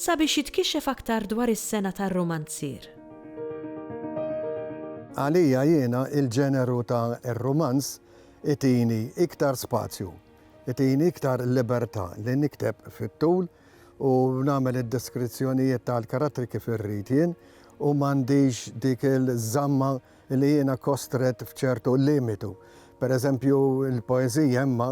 Sabiex jitkixxef aktar dwar is-sengħa tar-rumanzier. Għalija jiena il-ġeneru ta' r-rumanz itini iktar spazju, itini iktar libertà li nikteb fit-tul u nagħmel id-deskrizzjonijiet tal-karattri kif irrid jien u m'għandix dik il-żamma li jiena kostrett f'ċertu limitu. Per eżempju, il-poeżija imma,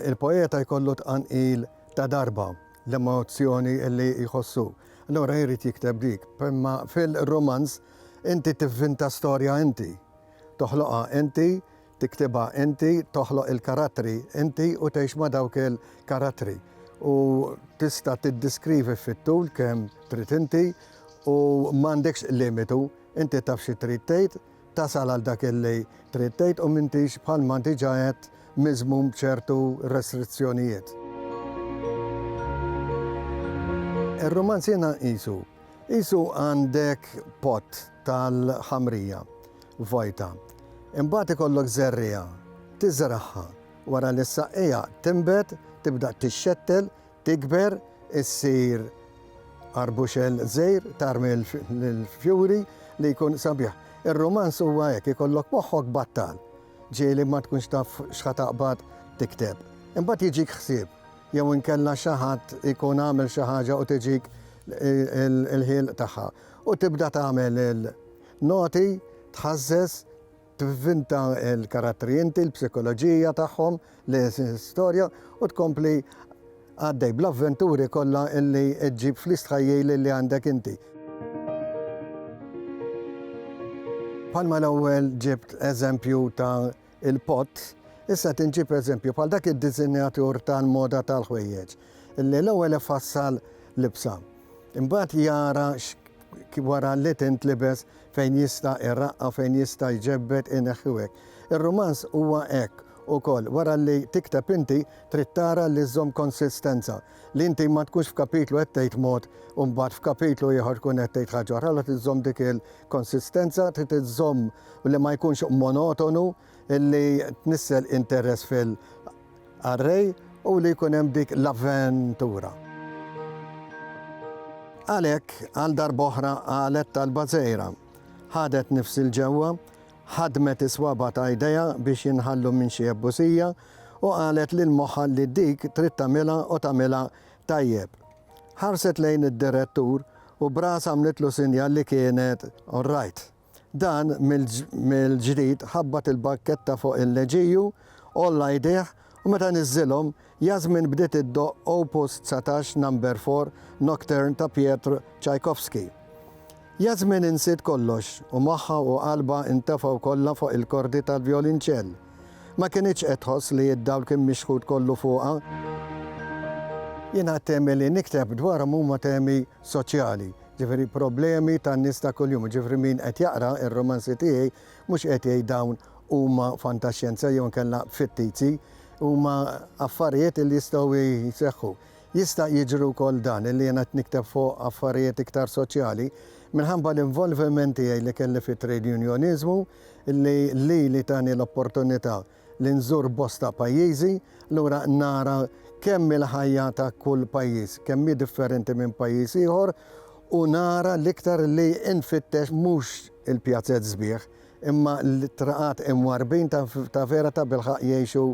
il-poeta jkollu tqanqil ta' darba. l-emozzjoni li jħossu. Allura jrid jikteb dik. Imma fil-rumanz inti tivvinta storja inti. Toħloqha inti, tiktibha inti, toħloq il-karattri inti u tgħix ma' dawk il-karattri. U tista' tiddiskrivi fit-tul kemm trid inti u m'għandekx limitu. Inti taf xi trid tgħid, tasal għal dak li trid tgħid u m'intix, bħalma diġà għedt, miżmum b'ċertu restrizzjonijiet. Ir-rumanz jiena nqisu, qisu għandek pott tal-ħamrija vojta, imbagħad ikollok żerriegħa, tiżragħha, wara li s-saqqija tinbet, tibda tixxettel, Tikber, issir arbuxell żgħir, tarmi l-fjuri li jkun sabiħ. Ir-rumanz huwa hekk, ikollok moħħok battal, ġieli ma tkunx taf x'ħa taqbad tikteb. Imbagħad jiġik ħsieb, jew inkella xi ħadd ikun għamel xi ħaġa u tiġik il-ħielq tagħha. U tibda tagħmel il-noti, tħażżeż, Tivvinta l-karattri inti, l-psikoloġija tagħhom, l-istorja u tkompli għaddej bl-avventuri kollha li ġġib fl-istħajjil li għandek inti. Bħalma l-ewwel ġibt eżempju ta' il-pott, issa tinġib eżempju bħal dak id-disinjatur tal-moda tal-ħwejjeġ. li l-ewwel ifassal libsa, imbagħad jara wara li tintlibes fejn jista' jraqqa, fejn jista' jġebbed, ineħħi u hekk. Ir-rumanz huwa hekk ukoll, wara li tikteb inti trid tara li żżomm konsistenza, li inti ma tkunx f'kapitlu qed tgħid mod u mbagħad f'kapitlu ieħor tkun qed tgħid ħaġa oħra, allura trid żżomm dik il-konsistenza, trid iżżomm li ma jkunx monotonu. illi tnissel interess fil-qarrej u li jkun hemm dik l-avventura. Għalhekk, għal darb'oħra qalet talba żgħira. Ħadet nifsi l-ġewwa, ħadmet is-swaba' ta' idejha biex jinħallu minn xi ebbusija u qalet lil moħħha li dik trid tagħmilha u tagħmilha tajjeb. Ħarset lejn id-direttur u b'rasha għamlitlu sinjal li kienet orrajt. Dan mill-ġdid ħabbat il-barketta fuq il-leġiju, għolla jdejh u meta niżżilhom, Yasmin bdiet iddoqq Opus 19 Number 4 Nocturne ta' Piotr Tchaikovsky. Yasmin insiet kollox u moħħha u qalbha ntefgħu kollha fuq il-kordi tal-vjolinċell. Ma kinitx qed tħoss li d-dawl kien mixħut kollu fuqha. Jiena t-temi li nikteb dwarhom huma temi soċjali, ġifieri problemi tan-nies ta' kuljum, jiġifieri min qed jaqra r-rumanzi tiegħi mhux qed jgħid dawn huma fantaxjenza jew inkella fittizi, huma affarijiet illi jistgħu jseħħu. Jista' jiġri wkoll dan illi jiena qed nikteb fuq affarijiet iktar soċjali minħabba l-involviment tiegħi li kelli fit-trade unjoniżmu illi lili tani l-opportunità li nżur bosta pajjiżi, lura nara kemm hi l-ħajja ta' kull pajjiż, kemm hi differenti minn pajjiż ieħor u nara l-iktar li nfittex mhux il-pjazez sbieħ imma l-traqat imwarrbin ta' vera tabilħaqq jgħixu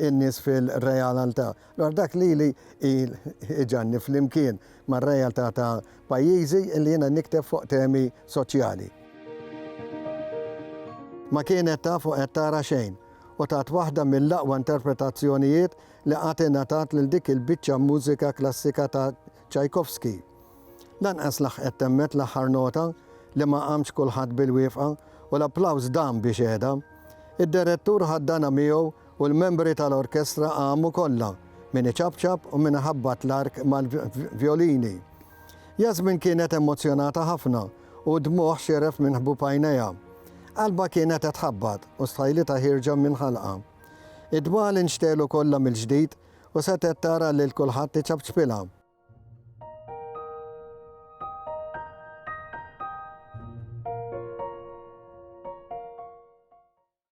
n-nies fil-realaltà. Dwar dak li li jġgħalni flimkien mar-realtà ta' pajjiżi li jiena nikteb fuq temi soċjali. Ma kienet taf u qed tara xejn u tat waħda mill-aqwa interpretazzjonijiet li qatt ingħatat lil dik il-biċċa mużika klassika ta' Tchaikovsky. Lanqas laħqet temmet l-aħħar nota li ma qamx kulħadd bil-wiefqa u l-applaws dam biex heda. Id-derettur ħaddanha miegħu U l-membri tal-orkestra qamu kollha, min iċapċap u min iħabbat l-ark mal-vjolini. Jasmine kienet emozzjonata ħafna u d-dmugħ xieref minn ħbub għajnejha. Qalbha kienet qed tħabbat u stħajlitha ħierġa minn ħalqha. Id-dmugħ li nxtegħlu kollha mill-ġdid u setgħet tara lil kulħadd iċapċpilha.